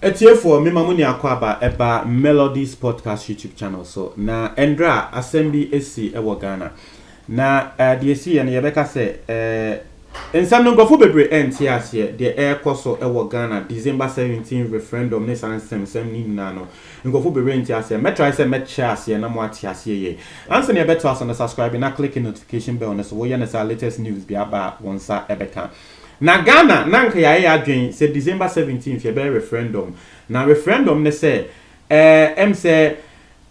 Atiefoɔ, me ma mo nya akwaaba ɛba Melodies Podcast YouTube channel so. Na ɛndra asɛm bi esi ɛwɔ Ghana. Na eh, deɛ esi yɛ no yɛbɛka sɛ eh, nsɛm no nkurɔfoɔ bebree ɛnte aseɛ deɛ ɛrekɔ so ɛwɔ Ghana December 17 referendum ne saa nsɛmsɛm ne nyinaa no. Nkurɔfo bebree nte aseɛ. Mɛ try sɛ mɛ kyerɛ aseɛ na mo ate aseɛ yie. Ansa na yɛ bɛ toa so no subscribe na click notification bell no so wo yɛ no saa latest news biara ba a wo nsa bɛ ka. Na Ghana na nka yɛ ayɛ yɛ adwen sɛ December 17th yɛ bɛ yɛ referendum. Na referendum ne sɛ ɛɛ ɛm sɛ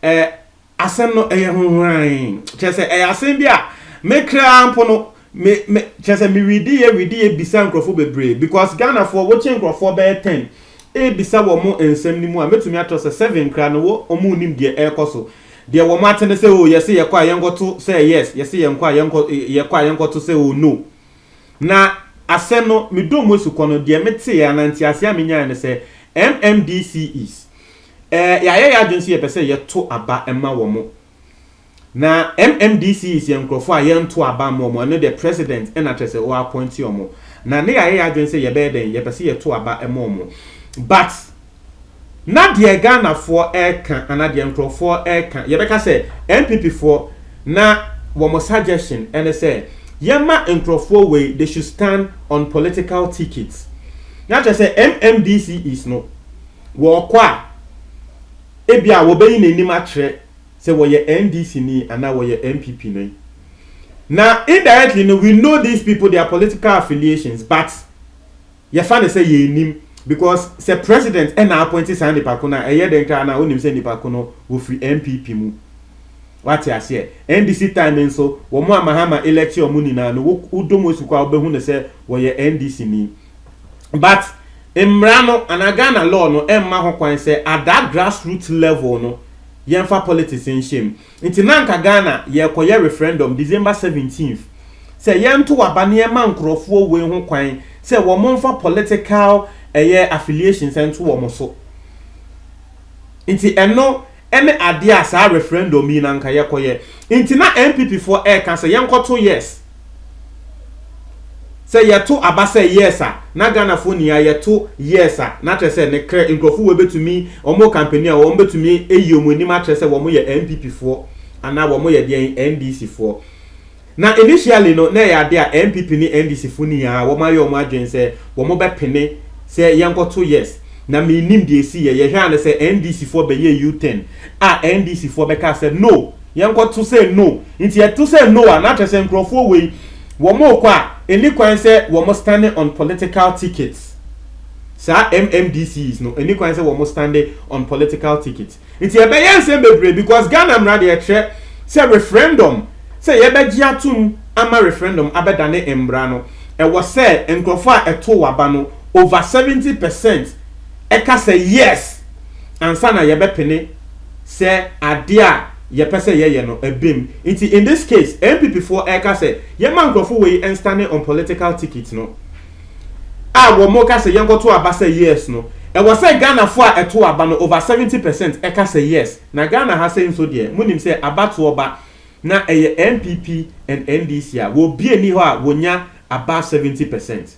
ɛɛ Asɛm no yɛ ho hurann. Kyerɛ sɛ, ɛyɛ asɛm bi a me kraa mpo no, me, me, kyerɛ sɛ me widiiɛ, widiiɛ bisa nkurɔfoɔ bebree. Because Ghanafoɔ, wokyɛ nkurɔfoɔ bɛyɛ ten rebisa wɔn nsɛm no mu a, mɛtumi atorɔ sɛ seven koraa no, wɔ, wɔn nnim deɛ ɛrekɔ so. Deɛ wɔn ate ne sɛ, oh, yɛse yɛkɔ a yɛnkɔto sɛ yes, yɛse yɛnkɔ a yɛnkɔ, yɛkɔ a yɛnkɔto sɛ oh, no. Na asɛm no, me dɔm asukɔ no, deɛ meteeɛ anaa nteaseɛ a menyaeɛ ne sɛ, MMDCEs, Ɛɛ, yɛayɛ yɛn adwene sɛ yɛpɛ sɛ yɛto aba ma wɔn. Na MMDCs yɛ nkurɔfoɔ a yɛnto aba mma wɔn, ɛno deɛ President na kyerɛ sɛ wɔappointe wɔn. Na na yɛayɛ yɛn adwene sɛ yɛbɛyɛ dɛn, yɛpɛ sɛ yɛto aba ma wɔn. But, na deɛ Ghanafoɔ reka anaa deɛ nkurɔfoɔ reka, yɛbɛka sɛ NPPfoɔ na wɔn suggestion ne sɛ yɛmma nkurɔfoɔ wei, they should stand on political tickets. Na kyerɛ sɛ MMDCs no, Wɔkɔ a, ebia wɔbɛyi n'anim akyerɛ sɛ wɔyɛ NDC ni anaa wɔyɛ NPP ni. Na indirectly no, we know these people, their political affiliations, but yɛfa no sɛ yɛnnim because sɛ president ɛna appointi saa nipa ko no a, ɛyɛ dɛn koraa na wonim sɛ nipa ko no wɔfiri NPP mu. Wate aseɛ? NDC time nso, wɔn a Mahama electi wɔn nyinaa no, wo, wodɔ mu esu kɔ a, wobɛhu no sɛ wɔyɛ NDC ni. but mmara no anaa Ghana law no mma ho kwan sɛ at that grass root level no yɛmfa politics nhyɛ mu. Nti na anka Ghana yɛrekɔyɛ referendum December seventeenth sɛ yɛnto aba na yɛma nkorɔfoɔ wei ho kwan sɛ wɔmfa political ɛyɛ affiliations nto wɔn so. Nti ɛno. ɛne adeɛ a saa referendum yi na anka yɛkɔyɛ nti na NPP foɔ ɛka sɛ yɛnkɔto yes sɛ yɛto aba sɛ yes a na Ghana foɔ nyinaa yɛto yes a na kyerɛ sɛ ne krɛ nkurɔfo wɔ bɛtumi wɔn kampani a wɔn bɛtumi ayi wɔn anim akyerɛ sɛ wɔn yɛ NPP foɔ anaa wɔn yɛ deɛ NDC foɔ Na initially no na ɛyɛ ade a NPP ne NDC fo nyinaa wɔn ayɛ wɔn adwene sɛ wɔn bɛ pene sɛ yɛnkɔ to yes na me nnim deɛ ɛsi yɛ yɛ hwɛ a no sɛ NDC foɔ bɛ yɛ U turn a NDC foɔ bɛ kaa sɛ no yɛnkɔ to sɛ no nti yɛ to sɛ no a na kyerɛ sɛ nkorɔfoɔ wei wɔn rekɔ a ɛnni kwan sɛ wɔn stande on political tickets saa MMDCs no ɛnni kwan sɛ wɔn stande on political tickets. Nti ɛbɛyɛ nsɛm bebree because Ghana mmara deɛ ɛkyerɛ sɛ referendum sɛ yɛbɛgye atom ama referendum abɛdane mmara no ɛwɔ sɛ nkorɔfoɔ a ɛtoo aba no over seventy percent ɛka sɛ yes ansa na yɛbɛpene sɛ adeɛ a yɛpɛ sɛ yɛyɛ no ɛba mu. Nti in this case NPP foɔ ɛreka sɛ yɛmma nkorɔfoɔ wei nstane on political ticket no. a wɔka sɛ yɛnkɔto aba sɛ yes no, ɛwɔ sɛ Ghanafoɔ a ɛto aba no over seventy percent ka sɛ yes. Na Ghana ha sei nso deɛ, monim sɛ abatoɔ ba na ɛyɛ NPP and NDC a, obi nni hɔ a wɔnya above seventy percent.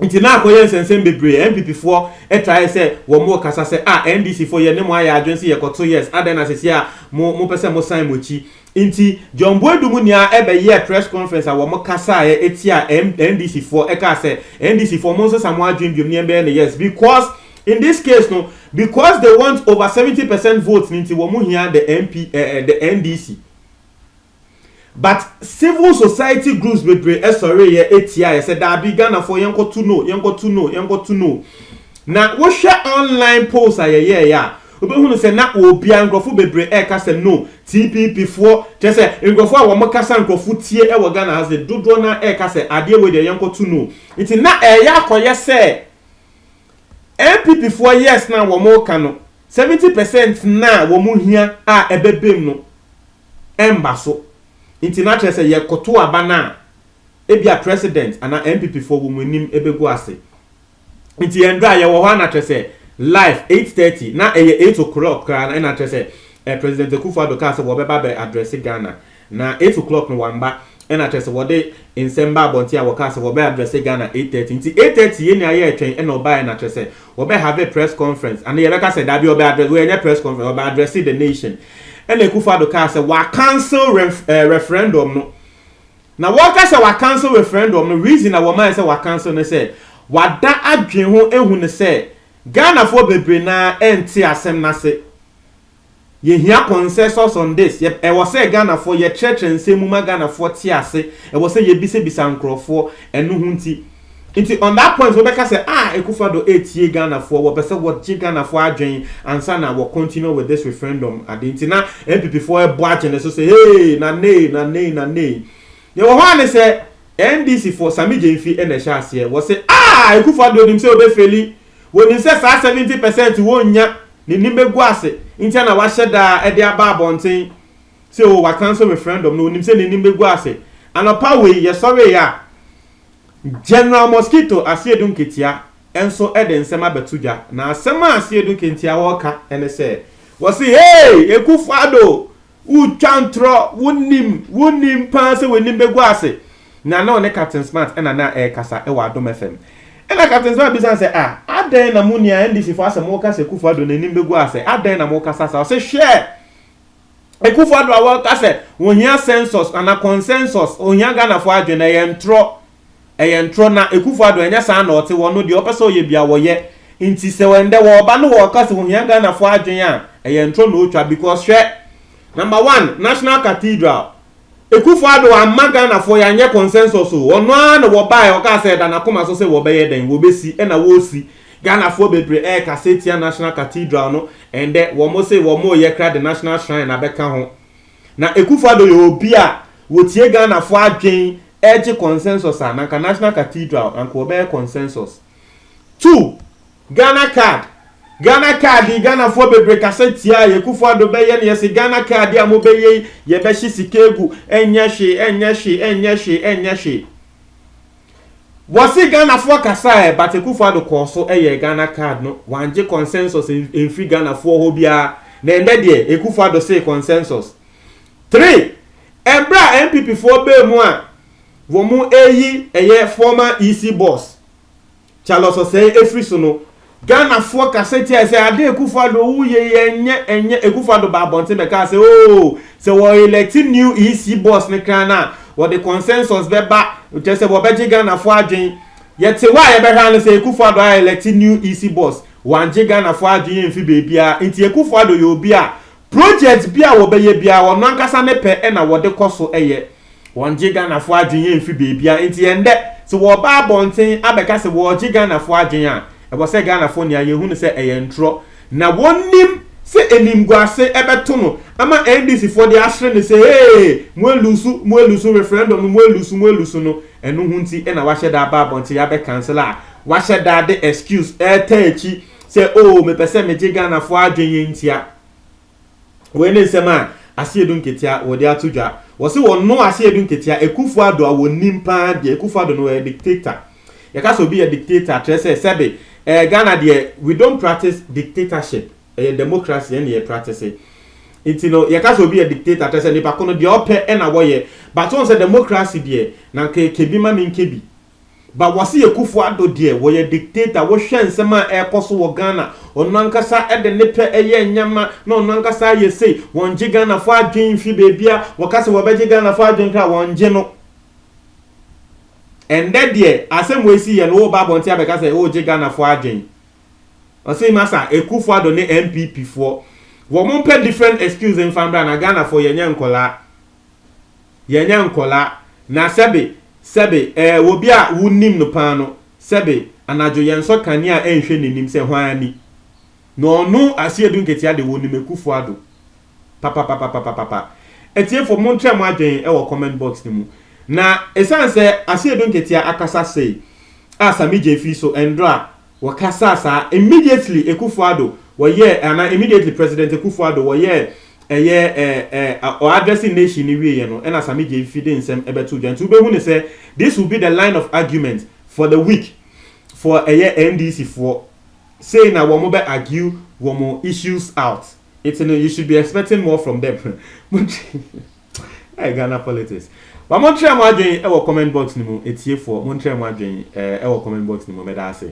Nti na akɔyɛ nsɛnsɛm bebree, NPPfoɔ tae sɛ wɔkasa sɛ ah NDCfoɔ yɛne mo ayɛ adwene sɛ yɛkɔto yes, adɛn na sesie a mopɛ sɛ mosan mo akyi. Nti John Boadum nea ɛbɛ yɛɛ press conference a wɔn kasaeɛ ɛtiaa NDC foɔ ɛkaa sɛ NDC foɔ mo nsesa mo adwene biom ne yɛn bɛyɛ no yes because in this case no because they want over 70 percent vote no nti wɔn hia the MP eh, eh, the NDC but civil society groups bebree ɛsɔreeɛ ɛtiaeɛ sɛ daabi Ghana foɔ yɛn kɔto no yɛn kɔto no yɛn kɔto no na wohwɛ online polls a yɛyɛeɛ a Wobɛhunu sɛ na obiara, nkurɔfo bebree ɛreka sɛ no, TPP foɔ, kyerɛ sɛ nkurɔfo a wɔn kasa nkurɔfo tie wɔ Ghana ha se dodoɔ no ara ɛreka sɛ adeɛ wei deɛ yɛnkɔ to no. Nti na ɛreyɛ akɔyɛ sɛ NPP foɔ yes no a wɔn reka no, 70 percent no a wɔn hia a ɛbɛba mu no ɛmba so. Nti na kyerɛ sɛ yɛkɔto aba no a, ebia President anaa NPP foɔ wɔn anim ɛbɛgu ase. nti yɛn dɔ a yɛwɔ hɔ a na kyerɛ sɛ life eight thirty na ɛyɛ eight o'clock koraa na ɛna kyerɛ sɛ eh, president akufo addo kaa sɛ wɔbɛba bɛ address ghana na eight o'clock no wamba ɛna kyerɛ sɛ wɔde nsɛm ba abɔnten a wɔkaa sɛ wɔbɛ address ghana eight thirty nti eight thirty yɛ nea yɛretwɛn ɛna ɔbaa ɛna kyerɛ sɛ wɔbɛ have a press conference ana yɛbɛka sɛ dabi ɔbɛ address wɔyɛ nyɛ press conference ɔbɛ address the nation ɛna akufo addo kaa sɛ wɔacancel ref, eh, referendum no Na wɔka sɛ wɔacancel referendum no, reason a wɔmae sɛ wɔacancel ne sɛ wɔada adwene ho ahu no sɛ Ghanafoɔ bebree no ara nte asɛm no ase. Yɛhia consensus on this, yɛ, ɛwɔ sɛ Ghanafoɔ yɛkyerɛkyerɛ nsɛm mu ma Ghanafoɔ te ase, ɛwɔ sɛ yɛbisabisa nkorɔfoɔ, ɛno ho nti Nti on that point wobɛka sɛ ah Akufo-Addo retie Ghanafoɔ, wɔpɛ sɛ wɔgye Ghanafoɔ adwene ansa na wɔ continue with this referendum ade nti na NPPfoɔ rebɔ akyene so sɛ hey na nei na nei na nei. Deɛ ɛwɔ hɔ ara ne sɛ NDCfoɔ, Sammy Gyamfi na ɛhyɛ aseɛ, wɔse ah Akufo-Addo nim sɛ ɔbɛ faili, wɔnim sɛ saa 70 percent wɔnnya, n'anim bɛgu ase ntia na wahyɛ da de aba abɔnten sɛ oh wa cancel referendum no, ɔnim sɛ n'anim bɛgu ase. Anɔpa wei yɛsɔreeɛ a, General Mosquito Asiedu Nketia nso de nsɛm abɛto dwa, na asɛm a Asiedu Nkentia ɔreka ne sɛ, wɔse Hey! Akufo Addo, wotwa ntorɔ, wonim, wonim paa sɛ w'anim bɛgu ase. Na na ɔne Captain Smart na na ɛrekasa wɔ Adom FM. Ɛna Captain Smart bisa no sɛ, ah, adɛn na mo nua NDC foɔ asɛ moka sɛ Akufo Addo n'anim bɛgu ase, adɛn na mokasa saa? Ɔse hwɛ! Akuffo Addo a wɔka sɛ wɔhia census anaa consensus, ɔhia Ghanafoɔ adwene, ɛyɛ ntorɔ, ɛyɛ ntorɔ, na Akuffo Addo ɛnyɛ saa na ɔte, wɔno deɛ ɔpɛ sɛ ɔyɛ biara wɔyɛ, nti sɛ ɛndɛ wɔɔba na wɔɔka sɛ wɔhia Ghanafoɔ adwene a, ɛyɛ ntorɔ na ɔtwa, because hwɛ, number one, National Cathedral, Akufo Addo amma Ghanafoɔ yɛanyɛ consensus o, ɔno ara na wɔbaeɛ ɔkaa sɛ ɛda n'akoma so sɛ wɔbɛyɛ dɛn, wɔbɛsi ɛna wɔresi, Ghanafoɔ bebree ɛrekasa tia National Cathedral no, ɛndɛ wɔn se wɔn reyɛ kra de National Shrine abɛka ho. Na Akufo Addo yɛ obi a wɔtie Ghanafoɔ adwen ɛregye consensus a, na anka National Cathedral anka wɔbɛyɛ consensus. Two. Ghana card Ghana card yi Ghanafoɔ bebre kasa tia yɛ Kufu Addo bɛyɛ no yɛse Ghana card yi a mo bɛyɛ yi yɛ bɛhye sika egu ɛnyɛ hwee ɛnyɛ hwee ɛnyɛ hwee ɛnyɛ hwee wɔse Ghanafoɔ kasa ɛ but Kufu Addo kɔɔ so yɛɛ Ghana card no wangye consensus mfiri Ghanafoɔ hɔ biara na ɛndɛ deɛ Ekufu Addo see consensus three ɛberɛ a NPP foɔ baa mu a wɔn reyi ɛyɛ former EC boss Charles Osei afiri so no, Ghanafoɔ kasa tiae sɛ Addo Akufo Addo wo yɛ yi ɛnyɛ ɛnyɛ, Akufo Addo baa abɔnten bɛkaa sɛ oo sɛ wɔ elɛkte new EC boss no kran no a wɔde consensus bɛba kyerɛ sɛ wɔbɛgye Ghanafoɔ adwen. Yɛte hɔ a yɛbɛhwɛ ano sɛ Akufo Addo a elɛkte new EC boss, wangye Ghanafoɔ adwen amfi baabiara nti Akufo Addo yɛ obi a Project bi a wɔbɛyɛ biara wɔn ankasa ne pɛ na wɔde kɔ so yɛ. Wɔngye Ghanafoɔ adwene mfiri baabiara. Nti ɛnnɛ, sɛ wɔba abɔnten abɛka sɛ wɔregye Ghanafoɔ adwene a, ɛwɔ sɛ Ghanafoɔ nea yɛhu no sɛ ɛyɛ ntorɔ. Na wɔnnim sɛ animguase bɛto no ama NDCfoɔ de ahwere no sɛ ee, moaluusu, moaluusu, referendum no moaluusu, moaluusu no. Ɛno ho nti na wɔahyɛ da aba abɔnten abɛkansele a wɔahyɛ da de excuse retaa akyi sɛ oo mepɛ sɛ megye Ghanafoɔ adwene yɛ ntia. Wei ne nsɛm a Asiedu Nketia wɔde ato dwa. Wɔse wɔno Asiedu Nketia, Akuffo Addo a wɔnim paa deɛ. Akuffo Addo no ɔyɛ dictator. Yɛka sɛ obi yɛ dictator a, kyerɛ sɛ sɛbe eh, Ghana deɛ we don't practice dictatorship. Ɛyɛ democracy ɛne yɛ practice. Nti no yɛka sɛ obi yɛ dictator kyerɛ sɛ nipa ko no deɛ ɔpɛ ɛna wɔyɛ. But wɔn sɛ democracy deɛ na nka yɛkɛ bi ma menkɛ bi. But wɔse Akufo Addo deɛ wɔyɛ dictator wohwɛ nsɛm a ɛrekɔ so wɔ Ghana ɔno ankasa de ne pɛ yɛ nneɛma na ɔno ankasa ayɛ sei wɔngye Ghanafoɔ adwen mfiri baabia wɔka sɛ wɔbɛgye Ghanafoɔ adwen koraa wɔngye no ɛndɛ deɛ asɛm wei siiɛ no woba abɔnten abɛka sɛ wogye Ghanafoɔ adwen ɔse masa Akufo Addo ne NPP foɔ wɔn mpɛ different excuse mfa mbra na Ghanafoɔ yɛnyɛ nkɔlaa Yɛnyɛ nkwadaa, na sɛbe, sɛbe, ɛɛ, obi a wunnim no paa no, sɛbe, anadwo yɛnsɔ kanea nhwɛ n'anim sɛ hwan ani na ɔno aseɛ du nketewa de wonim Akufo Addo papapapapapapa. Atiefo, montrɛ mo adwene wɔ comment box no mu. Na ɛsiane sɛ aseɛ du nketewa akasa sei a Sammy Gyefii so, ɛndora, Wɔkasaa saa, immediately Akufo Addo wɔyɛɛ eh, anaa immediately President Akufo Addo wɔyɛɛ ɛyɛ eh, eh, a- ɔ addressing nation no wieɛ no, ɛna Sammy Gyei Fi de nsɛm ɛbɛtoo dwa. Nti wobɛhu no sɛ this will be the line of argument for the week for ɛyɛ NDC foɔ. Sei na wɔn bɛ argue wɔn issues out. Nti no, you should be expecting more from them. Montwe- Hey, Ghana politics. Ba montrɛ mo adwen wɔ comment box no mu, atiefoɔ. Montrɛ mo adwen eh, wɔ comment box no mu. Meda ase.